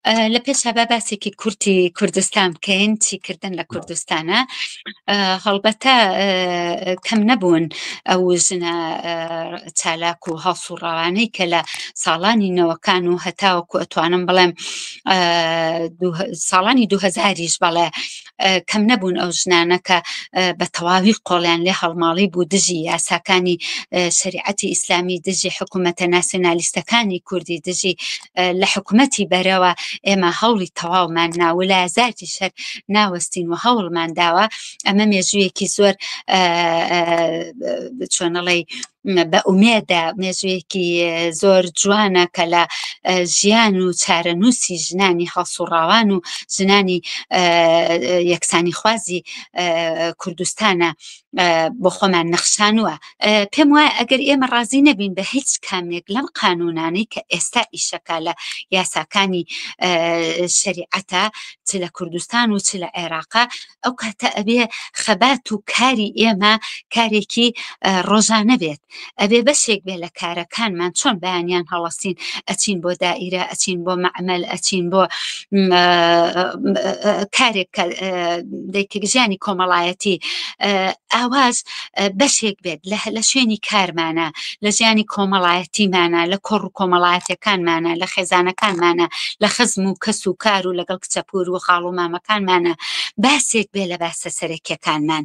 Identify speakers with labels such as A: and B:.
A: لە پێشا با باسێکی کورتی کوردستان بکەین چی کردن لە کوردستانە هەڵبەتە کەم نەبوون ئەو ژنە چالاک و هەڵسوڕاوانەی کە لە ساڵانی نەوەکان و هەتاوەکو ئەتوانم بڵێم ساڵانی دوهزاریش بەڵێ کەم نەبوون ئەو ژنانە کە بە تەواوی قۆڵیان لێ هەڵماڵی بوو دژی یاساکانی شریعەتی ئیسلامی دژی حکوومەتە ناسیۆنالیستەکانی کوردی دژی لە حکوومەتی بەرەوە ئێمە هەوڵی تەواومان ناولا زارتی شەر ناوەستین و هەوڵمان داوە ئەمە مێژوویەکی زۆر چۆنەڵی بە ئومێدە مێژوویەکی زۆر جوانە کە لە ژیان و چارەنووسی ژنانی هەڵسوڕاوان و ژنانی یەکسانی خوازی کوردستانە بۆ خۆمان نەخشانووە پێم وایە ئەگەر ئێمە ڕازی نەبین بە هیچ کامێک لەم قانونانەی کە ئێستا ئیشەکە لە یاساکانی شریعەتە چ لە کوردستان و چ لە عێراقا ئەو کاتە ئەبێ خەبات و کاری ئێمە کارێکی ڕۆژانە بێت ئەبێ بەشێک بێ لە کارەکانمان چۆن بەیانیان هەڵەسین ئەچین بۆ دائیرە ئەچین بۆ معمل ئەچین بۆ کارێک دەیکردژیانی کۆمەڵایەتی ئاواز بەشێک بێت لە شوێنی کارمانە لە ژیانی کۆمەڵایەتیمانە لە کۆڕ و کۆمەڵایەتەکانمانە لە خێزانەکانمانە لە خزم و کەس و کار و لەگەڵ کچەپور و خاڵ و مامەکانمانە باسێک بێ لە باسە سەرەکیەکانمان